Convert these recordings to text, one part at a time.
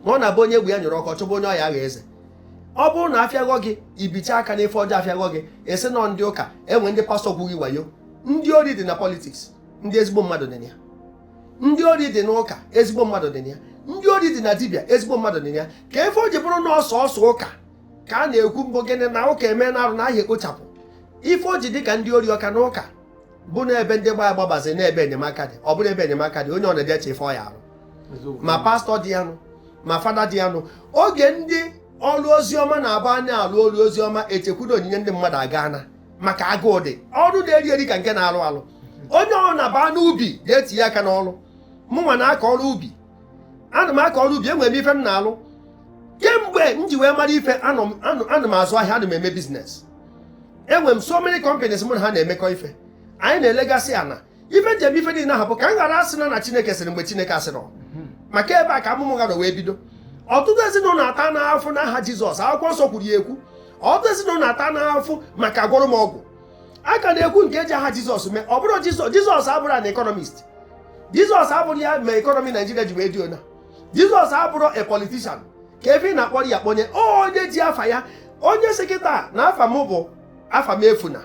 ọ na-abụ onye egwu ya nyụrụ ọkụ chọba onye ọ ya agha eze ọ bụrụ na afịaghọ gị ibicha aka n'ife ọjọọ afịaghọ gị asị na ọ ndị ụka enwe ndị pastọ gwughị wayo ndị ori dị na politiks ndị ezigbo mmadụ dị na ya ndị ori dị n'ụka ezigbo mmadụ dị na ya ndị ori dị na dibịa ezigbo mmadụ dị na ya kee ife o ji bụrụ na ọ sọọsọ ụka ka a na-ekwu mbụ gịnị na ụka eme na arụ na a ya ekpochapụ ife o ji dị ka ndị ori ọ ka na ụka bụ na ebe ndị gbaa agbabazi na ebe enyemaka dị ọ bụrụ ebe enyemaka dị onye ọ na-eje eche ife ọ ya arụ ma pastọ dị ya nụ ma fada dị ya nụ oge ndị ọrụ ozi ọma na-abụ a na-alụ ọrụ ozi ọma echekwudo onyinye ndị mmadụ agaana maka agụụ dị ọrụ na-eri eri ka nke na-alụ alụ onye ọ na-aba n'ubi ga-etinye aka n'ọrụ mụnwa na-akọ ọrụ ubi ana m akọ ọrụ ubi enwere m ife m na-alụ kemgbe m ji wee mara ife anọ m- anọ- ana m azụ ahịa ana m eme biznes enwere m so many companies mụ na ha na-emekọ ife anyị na-elegasị ana ife m ji eme ife niile ahụ bụ ka m ghara asị na na chineke sịrị mgbe chineke asịrọ maka ebe a ka amụma ụgha wee bido ọtụtụ ezinụlọ atana afụfụ n'aha jizọs akwụkwọ nsọ kwuru ya ekwu ọtụtụ ezinụlọ atana afụfụ maka agwọrọ m ọgwụ a ka na-ekwu nke eji aha jizọs mee ọ bụrọ jizọs jizọs abụrọ an economist jizọs abụrọ ya mere ekọnọmi naijiria ji wee dị ona jizọs abụrọ a politician kee ife ị na-akpọrọ ya kpọnye onye ji afa ya onye sị kịta na afa m bụ afamefuna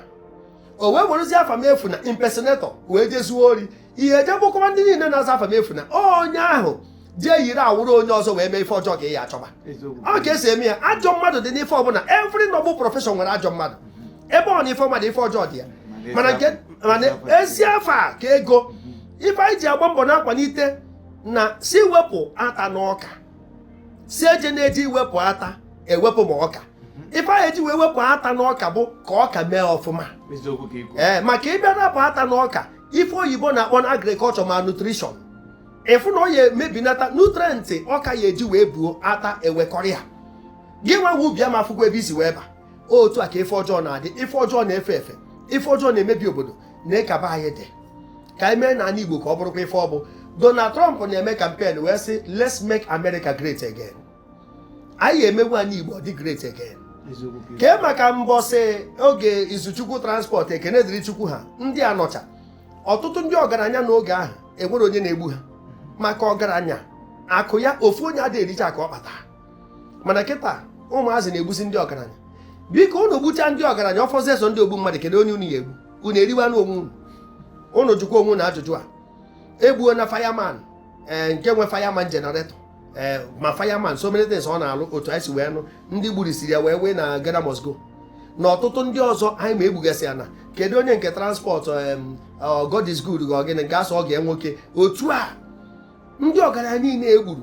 o wee werezie afamefuna impersonate o wee jee zuo ori ị ya eje gbukọwa ndị niile na-aza afamefuna onye ahụ jee yiri awụrụ onye ọzọ wee mee ife ọjọọ ka ị ya achọba ọ ka esi eme ya ajọ mmadụ dị n'ife ọbụla every noble profession nwere ajọ mmadụ ebe ọ na ife ọma dị ife ọjọọ dị ya mana nke mana ezi afa ka ego ife anyị ji agba mbọ na-akwalite na sị wepụ ata n'ọka sị ejena eji iwepụ ata ewepụ ma ọka ife anyị eji wee wepụ ata n'ọka bụ ka ọka mee ọfụma ee maka ị bịa rapụ ata n'ọka ife oyibo na-akpọ na agriculture malnutrition ị fụ na ọ ya emebi nata nutrient ọka ya eji wee buo ata ewekọrọ ya gịnwa nwe ubi ama afụkwa ebe i si wee ba otu a ka ife ọjọọ na-adị ife ọjọọ na-efe efe ife ọjọọ na-emebi obodo nee ka be anyị dị ka anyị meenụ ana igbo ka ọ bụrụkwa ife ọ bụ donald trump na-eme kampen wee sị let's make america great again anyị emewe anị igbo ọ dị great again kee maka mbọsị oge izuchukwu transport ekene dịrị chukwu ha ndị a nọcha ọtụtụ ndị ọgaranya n'oge ahụ enwerọ onye na-egbu ha maka ọgaranya akụ ya ofu onye ada ericha akụ ọ kpata mana kịta ụmụazị na-egbusi ndị ọgaranya biko unu gbuchaa ndị ọgaranya ọ fọzie sọ ndị ogbu mmadụ kedu onye unu ya egbu unu eriwanụ onwe unu unu jụkwa onwe unu ajụjụ a egbuona firman ee eh, nke nwe firman generator ee eh, ma firman so many things ọ na-alụ otu anyị si wee nụ ndị gburisiri ya wee wee na Ghana must go na ọtụtụ ndị ọzọ anyị ma egbugasị ya na kedu onye nke transport eh, God is good ka ọ gịnị nke asọ ọ ga nwoke otu a ndị ọgaranya niile egburu